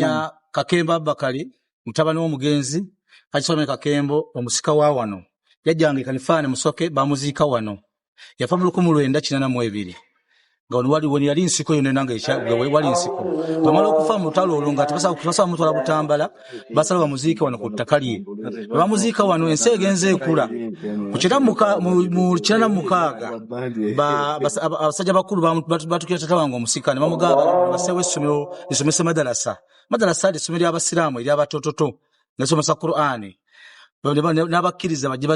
ya kakembo abakali mutabani w'omugenzi kakisome kakembo omusika wa wano yajjanga ekanifaane musoke bamuziika wano yafa mu lukumu lwenda kinana mu ebiri nga wano wali wani yali nsiko yona nanga ekyawe wali nsiko bamala okufa mu lutalo olwo nga tebasa tebasa mutwala butambala basala bamuziike wano ku ttaka lye bamuziika wano ensi egenze ekula ku kira muka mu mu kirana mukaaga ba- basa- aba- abasajja bakulu bamu- batu- batukira tata wange omusika ne bamugaba basewo essomero lisomese madarasa madarasa lyesomero lyabasiraamu eryabatototo nesomesa qurani n'abakkiriza bajje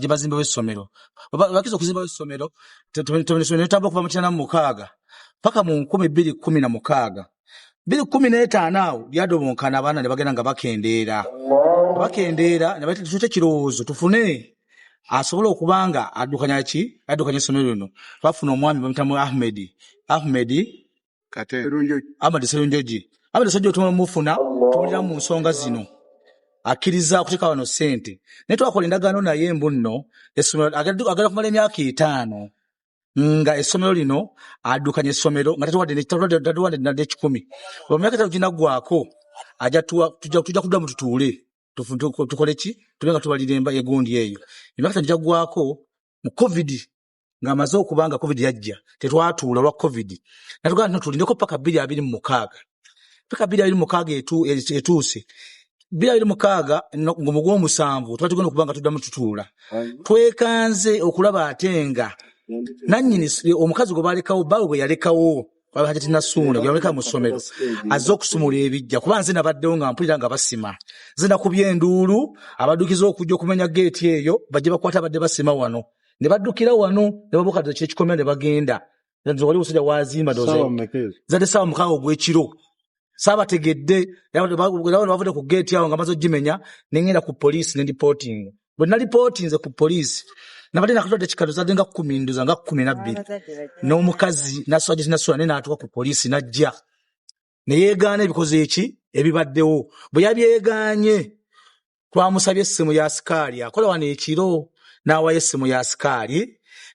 bazimbewo essomero bakkiriza okuzimbawo essomero netamba okuva mu kina namu mukaaga paka mu nkumi bbiri kumi na mukaaga bbiri kumi n'etaano awo lyadobonkana abaana ne bagenda nga bakendeera bakendeera nebatute ekirowoozo tufune asobola okuba nga addukanya ki addukanya essomero lino bafuna omwami bamutamu ahmedi ahmedi kate amadi serunjoji abadi sajja otuma mufuna tubulira mu nsonga zino akkiriza okuteeka wano ssente naye twakola endagaano naye mbu nno essomero agenda kumala emyaka etaano nga essomero lino addukanya essomero nga tatuwadde nadde ekikumi oba myaka etano ginaggwako tujja kudda mu tutuule tukole ki tube nga tubalira egundi eyo emyaka etano gyaggwako mu covid ng'amaze okuba nga covid yajja tetwatuula olwa covid natugaa tino tulindeko paka bbiri abiri mu mukaaga paka bbiri abiri mu mukaaga etuuse bbiri abiri mukaaga ngomu gw'omusanvu tuba tugenda okuba nga tuddamu tutuula twekanze okulaba ate nga nannyini omukazi gwe baalekawo baawe bwe yalekawo hajati nasuuna gweyamuleka mu ssomero azze okusumula ebijja kuba nze nabaddewo nga mpulira nga basima nze nakubye enduulu abadukiza okujja okumenya geeti eyo bajja bakwata abadde basima wano ne baddukira wano ne babuka dda kyekikomera ne bagenda Nga nze wali omusajja wazimba doze Saawa mmeka ezo? zadde saawa mukaaga ogw'ekiro saabategedde era bano ba- era bano bavudde ku geeti awo nga maze ogimenya ne ngenda ku poliisi ne lipootinga bwe nalipootinze ku poliisi nabadde nakatwadde kikalo zadde nga kkumi ndoza nga kkumi nabbiri n'omukazi naswagiti nasula naye n'atuuka ku poliisi n'ajja ne yeegaana ebikoze eki ebibaddewo bwe yabyegaanye twamusabye essimu ya sikaali akola wano ekiro n'awayo essimu ya sikaali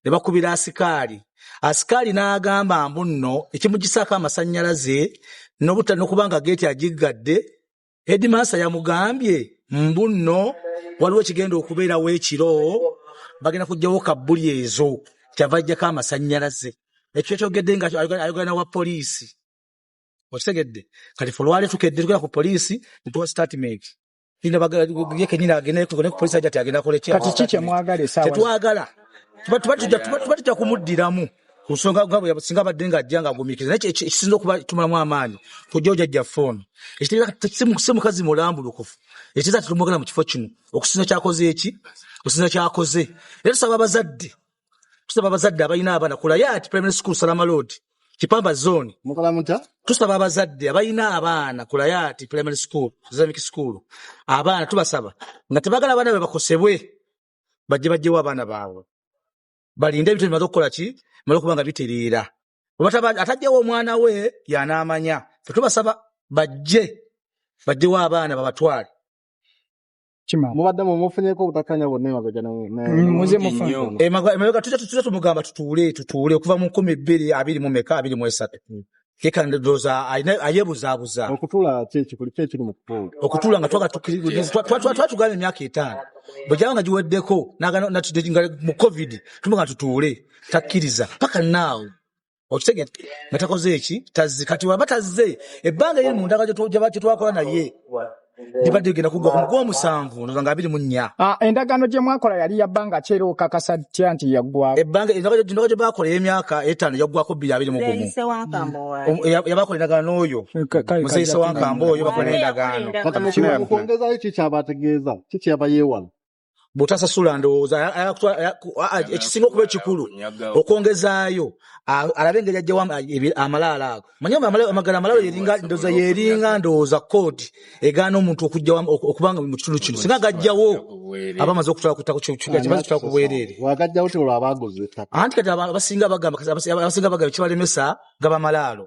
ne bakubira asikaali asikaali n'agamba mbu nno ekimugisaako amasannyalaze nokuba nga geeti agiggadde edimansa yamugambye mbu nno waliwo ekigenda okubeerawo ekiro bagenda kugyawo kabbuli ezo kyava ajjako amasannyalaze ekyo kyokyogedde nga ayogana wa poliisi okitegedde kati fe olwali tukedde tugenda ku poliisi ntuwa statement ye kenyini agende ku poliisi aja ti agenda koleki kati ki kyemwagala esaawa tetwagala tuba tujja kumuddiramu ku nsonga nga singa abadde ng'ajja ng'agumiikiriza naye ekisinza okuba tumulamu amaanyi kujja ojajja foono si mukazi mulambulukufu ekiteeza tetumwagala mu kifo kino okusinza kyakoze eki okusinza kyakoze era tusaba abazadde tusaba abazadde abalina abaana ku layati primary school salama road kipamba zone mukola muta tusaba abazadde abalina abaana ku layati primary school islamic school abaana tubasaba nga tebagala abaana be bakosebwe bajje bajjewo abaana baabwe balinde ebintu bimaze okukola ki bimaze okuba nga bitereera atajjewo omwana we yanaamanya fe tubasaba bajje bajjewo abaana babatwale kimala mubadde mu mufunyeko obutakanya bonna emabega ne- ne- Mm, muze Bulungi mufune. nnyo. Emaga- emabega tuja tutuza tumugamba tutuule tutuule okuva mu nkumi bbiri abiri mu meka abiri mu esatu yekandoza ayebuzaabuza okutuula ki ekikuli ki ekiri mu kutuula okutuula nga twaga tukiriza twatugamba emyaka etaano bwegyaba nga giweddeko naga- natudde nga mu covid tumuga tutuule takkiriza paka naawo okitegete nga takoze eki tazze kati waba tazze ebbanga eri mu ndaga gyetwakola naye libadde ligenda kuggwa ku mugwomusanvu ndoza nga abiri mu nnya ah, endagaano gye mwakola yali ya bbanga ki era okakasa tya nti yaggwao ebbanga endaga gye baakola ey'emyaka etaano yaggwako bbiri abiri mu gumu yabakola endagaano n'oyo muzeeyi sewankamba oyo bakola n'endagaano mu kwongezayo ki kyabategeeza ki kyeyaba yeewala bwotasasula ndowooza ekisinga okuba ekikulu okwongezaayo alabe engeri ajjawo amalaalo ago manye amagala amalaalo yeringa ndooza yeringa ndowooza koodi egaana omuntu okujjawo okubanga mu kitundu kino singa gajjawo aba amaze okutwala kutako kimaze kutwala ku bwereere anti kati abasinga bagamba abasinga bagamba kibalemesa gaba malaalo